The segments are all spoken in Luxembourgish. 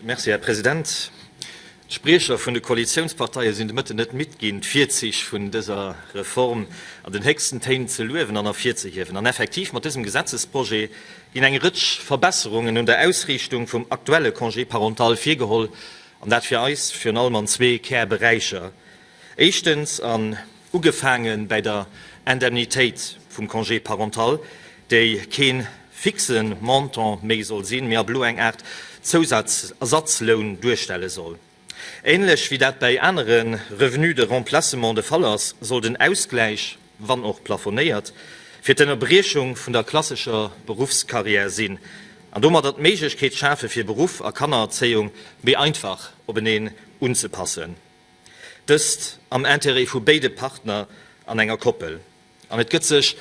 Merci, Här President. D'Spriecher vun de Koalitiounsparteie sinn de Mëtten net midd ginn, d'Virzich vun dëser Reform an den héchsten Téin ze luewen an ervirzehiewen. An effektiv, mat dësem Gesetzesprojet ginn eng Rëtsch Verbesserungen un der Ausriichtung vum aktuelle Congé parental virgeholl, an dat fir eis virun allem an zwee Kärberäicher, Éischtens, an ugefaange bäi der Indemnitéit vum Congé parental, déi kee fixe Montant méi soll sinn, mee ab elo eng Aart Zousatzersatzloun duerstelle soll. Ähnlech wéi dat bäi anere Revenus de remplacement de Fall ass, soll den Ausgläich, wann och plafonéiert, fir d'Ënnerbriechung vun der klassescher Beruffscarrière sinn an domadder d'Méiglechkeet schafe fir Beruff a Kannererzéiung méi einfach openeen unzepassen. Dëst am Intérêt vu béide Partner an enger Koppel. An et gëtt sech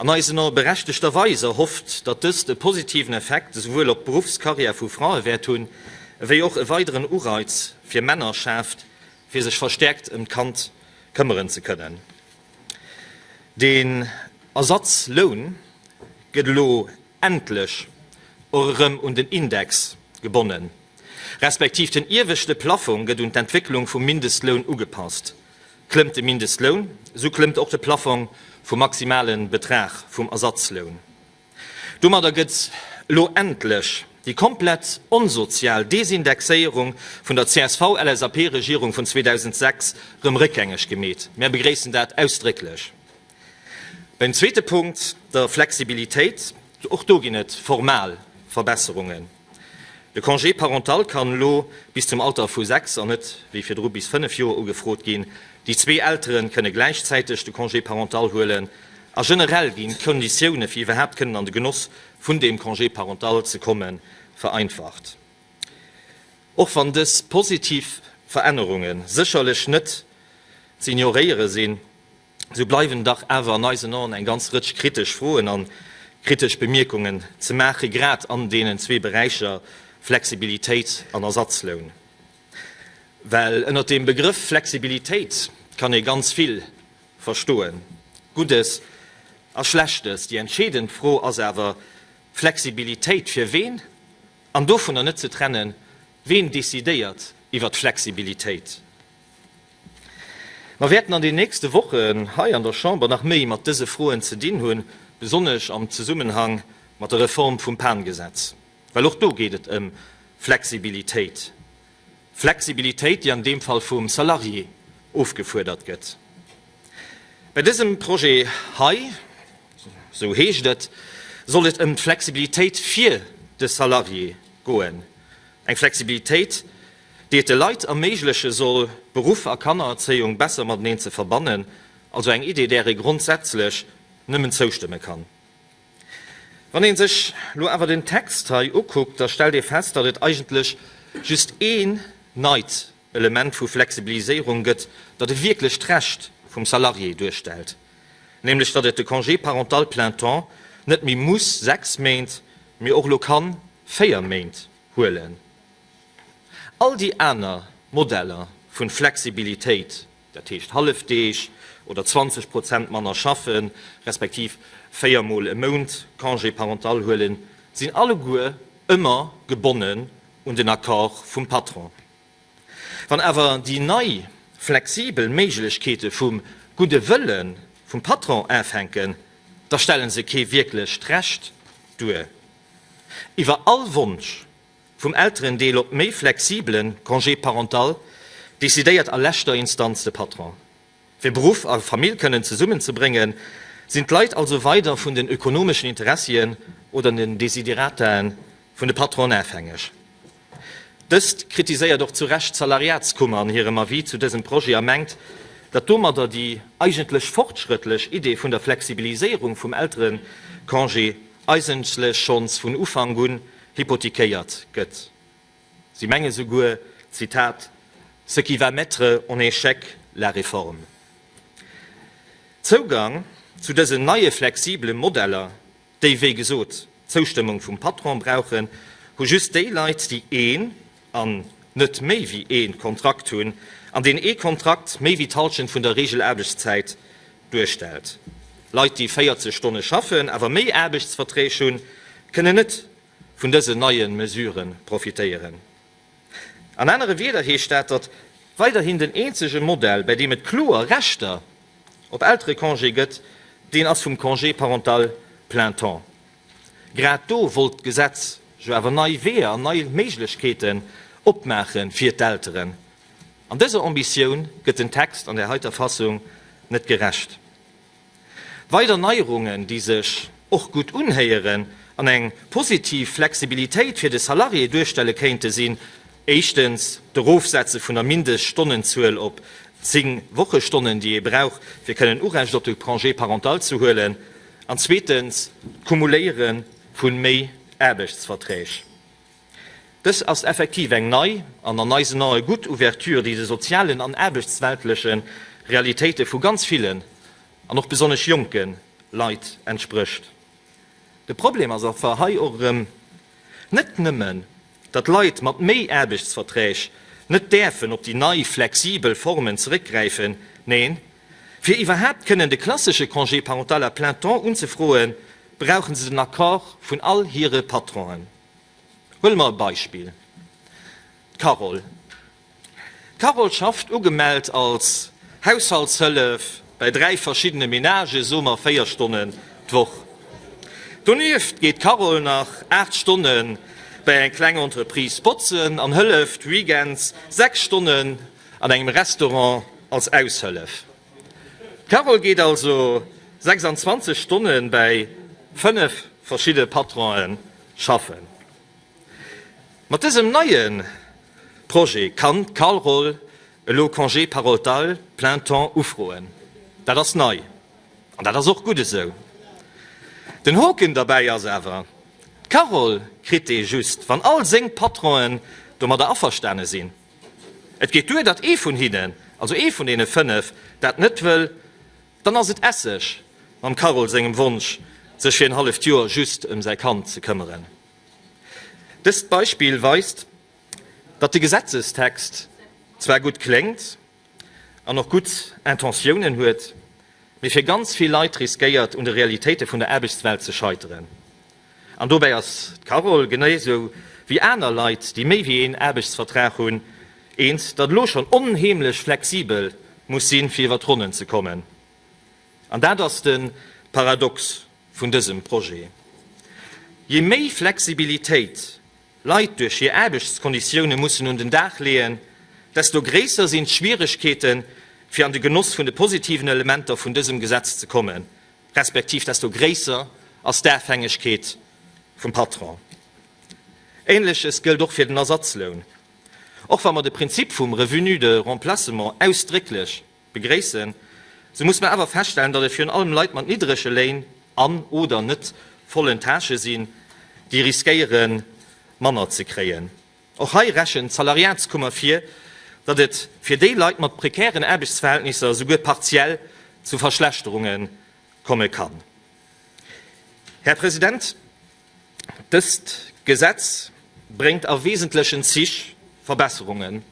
an eisen Ae berechtegter Weis erhofft, datt dëst e positiven Effekt esouwuel op d'Beruffscarrière vu Frae wäert hunn, ewéi och e weideren Ureiz fir Männer schaaft, fir sech verstäerkt ëm d'Kand këmmeren ze kënnen. Den Ersatzloun gëtt elo endlech och erëm un den Index gebonnen, respektiv den ieweschte Plaffong gëtt un d'Entwécklung vum Mindestloun ugepasst. Klëmmt de Mindestloun, esou klëmmt och de Plaffong vum maximale Betrag vum Ersatzloun. Domadder gëtt elo endlech déi komplett onsozial Desindexéierung vun der CSV-LSAP-Regierung vun 2006 erëm réckgängeg gemeet. Mär begréissen dat ausdrécklech. Beim zweete Punkt, der Flexibilitéit, och do ginn et formal Verbesserungen. De Congé parental kann elo bis zum Alter vu sechs an net wéi virdru bis fënnef Joer ugefrot ginn. Déi zwee Eltere kënne gläichzäiteg de Congé parental huelen a generell ginn d'Konditioune fir iwwerhaapt kënnen an de Genoss vun deem Congé parental ze komme vereinfacht. Och wann dës positiv Verännerunge sécherlech net ze ignoréiere sinn, sou bleiwen dach awer an eisen Aen eng ganz Rëtsch kritesch Froen an kritesch Bemierkungen ze maachen, grad an deenen zwee Beräicher Flexibilitéit an Ersatzloun. Well ënnert deem Begrëff Flexibilitéit kann ee ganz vill verstoen, Guddes a Schlechtes. Déi entscheedend Fro ass awer, Flexibilitéit fir ween? An dovunner net ze trennen, ween decidéiert iwwert Flexibilitéit? Mer wäerten an den nächste Wochen hei an der Chamber nach méi mat dëse Froen ze dinn hunn, besonnesch am Zesummenhang mat der Reform vum Pan-Gesetz, well och do geet et ëm Flexibilitéit, Flexibilitéit, déi an deem Fall vum Salarié ofgefuerdert gëtt. Bei dësem Projet hei, esou heescht et, soll et ëm d'Flexibilitéit fir de Salarié goen, eng Flexibilitéit, déi et de Leit erméigleche soll, Beruff a Kannererzéiung besser mateneen ze verbannen, also eng Idee, där ee grondsätzlech nëmmen zoustëmme kann. Wann ee sech elo awer den Text hei ukuckt, da stellt ee fest, datt et eigentlech just ee neit Element vu Flexibiliséierung gëtt, dat e wierklecht Recht vum Salarié duerstellt, nämlech datt et de Congé parental plein temps net méi muss sechs Méint, mee och elo kann véier Méint huelen. All déi aner Modeller vu Flexibilitéit, dat heescht Hallefdeeg oder 20 Prozent manner schaffe respektiv véier Mol e Mount Congé parental huelen, sinn alleguer ëmmer gebonnen un den Accord vum Patron. Wann awer déi nei flexibel Méiglechkeete vum gudde Wëlle vum Patron afänken, da stelle se kee wierklecht Recht duer iwwer all Wonsch. Vum Elterendeel op méi flexibele Congé parental decidéiert a leschter Instanz de Patron. Fir Beruff a Famill kënnen zesummen ze bréngen, sinn d'Leit also weider vun den ökonomeschen Interessien oder den Desiderataen vun de Patronen afhängeg. Dëst kritiséiert och zu Recht d'Salariatskummer an hirem Avis zu dësem Projet a mengt, datt domadder déi eigentlech fortschrëttlech Idee vun der Flexibiliséierung vum Elterecongé eigentlech schonns vun Ufank un hypothiquéiert gëtt. Si menge souguer, Zitat, ce qui va mettre en échec la réforme. Zougang zu dësen neie flexibele Modeller, déi wéi gesot d'Zoustëmmung vum Patron brauchen, hu just déi Leit, déi een an net méi wéi ee Kontrakt hunn, an deen ee Kontrakt méi wéi d'Hallschent vun der Reegelaarbechtszäit duerstellt. Leit, déi 40 Stonne schaffen, awer méi Aarbechtsverträg hunn, kënnen net vun dësen neie Mesurë profitéieren. An anere Wieder heescht dat, datt weiderhin den eenzege Modell, bäi deem et kloer Rechter op Elterecongé gëtt, deen ass vum Congé parental plein temps. Grad do wollt d'Gesetz jo awer nei Weeër an nei Méiglechkeeten opmaache fir d'Elteren. An dëser Ambitioun gëtt den Text an där heiter Fassung net gerecht. Weider Neierungen, déi sech och gutt unhéieren an eng positiv Flexibilitéit fir de Salarié duerstelle kéinte sinn, éischtens d'Erofsetze vun der Mindeststonnenzuel op zéng Wochestonnen, déi ee brauch, fir kënnen Urecht op de Congé parental ze huelen, An zweetens, d'Cumuléiere vu méi Aarbechtsverträg. Dës ass effektiv eng nei an an eisen Ae gutt Ouverture, déi de sozialen an aarbechtsweltleche Realitéite vu ganz villen an och besonnesch jonke Leit entsprécht. De Problem ass awer hei och erëm net nëmmen, datt Leit mat méi Aarbechtsverträg net däerfen op déi nei flexibel Formen zeréckgräifen, neen, Fir iwwerhaapt kënnen de klassesche Congé parental à plein temps unzefroen, brauche se den Accord vun all hire Patronen. Huele mer e Beispill, d'Carole. D'Carole schafft ugemellt als Haushaltshëllef bäi dräi verschiddene Menagen, soe mer véier Stonnen d'Woch. Donieft geet d'Carole nach aacht Stonne bäi eng kleng Entreprise botzen an hëlleft weekends sechs Stonnen. An engem Restaurant als Aushëllef. D'Carole geet also 26 Stonne bäi 5 verschidde Patronë schaffen. Mat dësem neie Projet kann d'Carole elo Congé parental plein temps ufroen. Dat ass nei an dat ass och gutt esou. Den Hoken derbäi ass awer, D'Carole kritt dee just, wann all seng Patronë domadder averstane sinn. Et geet duer, datt ee vun hinnen, also ee vun deene fënnef, dat net wëll. Dann ass et Esseg mam Carole sengem Wonsch, sech fir en halleft Joer just ëm säi Kand ze këmmeren. Dëst Beispill weist, datt de Gesetzestext zwar gutt kléngt an och gutt Intentiounen huet, mee fir ganz vill Leit riskéiert, un de Realitéite vun der Aarbechtswelt ze scheiteren. An dobäi ass d'Carole, geneisou wéi aner Leit, déi méi wéi een Aarbechtsvertrag hunn, eens, datt elo schonn onheemlech flexibel muss sinn, fir iwwer d'Ronnen ze kommen. An dat ass de Paradox vun dësem Projet. Je méi Flexibilitéit Leit duerch hir Aarbechtskonditioune mussen un den Dag leeën, desto gréisser sinn d'Schwieregkeeten, fir an de Genoss vun de positiven Elementer vun dësem Gesetz ze kommen. respektiv desto gréisser ass d'Afhängegkeet vum Patron. Ähnleches gëllt och fir den Ersatzloun. Och wa mer de Prinzip vum Revenu de remplacement ausdrécklech begréissen, sou muss mer awer feststellen, datt et virun allem Leit mat niddrege Léin an, oder net vollen Tâchë sinn, déi riskéiere manner ze kréien. Och hei rechent d'Salariatskummer vir, datt et fir déi Leit mat prekären Aarbechtsverhältnisser esouguer partiell zu Verschlechterunge komme kann. Här President, dëst Gesetz bréngt a wesentlechen Zich Verbesserungen,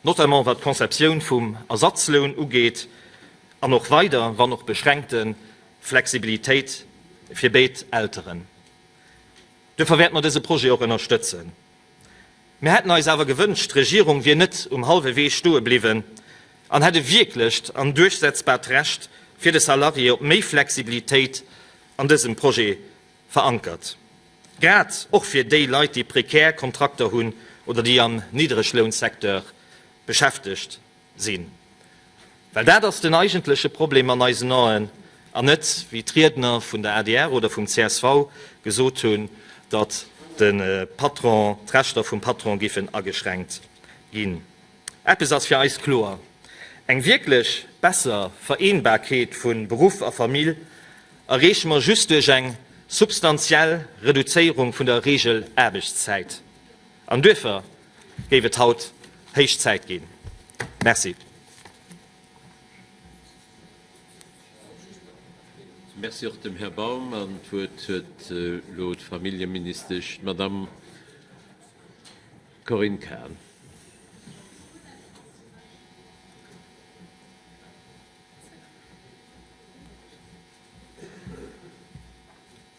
notamment wat d'Conceptioun vum Ersatzloun ugeet, an och weider, wann och beschränkte Flexibilitéit fir béid Elteren. Duerfir wäerte mer dëse Projet och ënnerstëtzen. Mir hätten eis awer gewënscht, d'Regierung wier net um hallwe Wee stoe bliwwen an hätt e wierklecht an duerchsetzbart Recht fir de Salarié op méi Flexibilitéit an dësem Projet verankert, grad och fir déi Leit, déi prekär Kontrakter hunn oder déi am Niddreglounsecteur beschäftegt sinn, well dat ass den eigentleche Problem an eisen Aen, an net, wéi d'Riedner vun der adr oder vum csv gesot hunn, datt de Patron, d'Rechter vum Patron géifen ageschränkt ginn. Eppes ass fir eis kloer, Eng wierklech besser Vereenbarkeet vu Beruff a Famill erreeche mer just duerch eng substantiell Reduzéierung vun der Regelaarbechtszäit. An duerfir géif et haut héich Zäit ginn. Merci. Merci och dem Här Baum. An d'Wuert huet elo d'Familljeministesch, d'Madamm Corinne Cahen.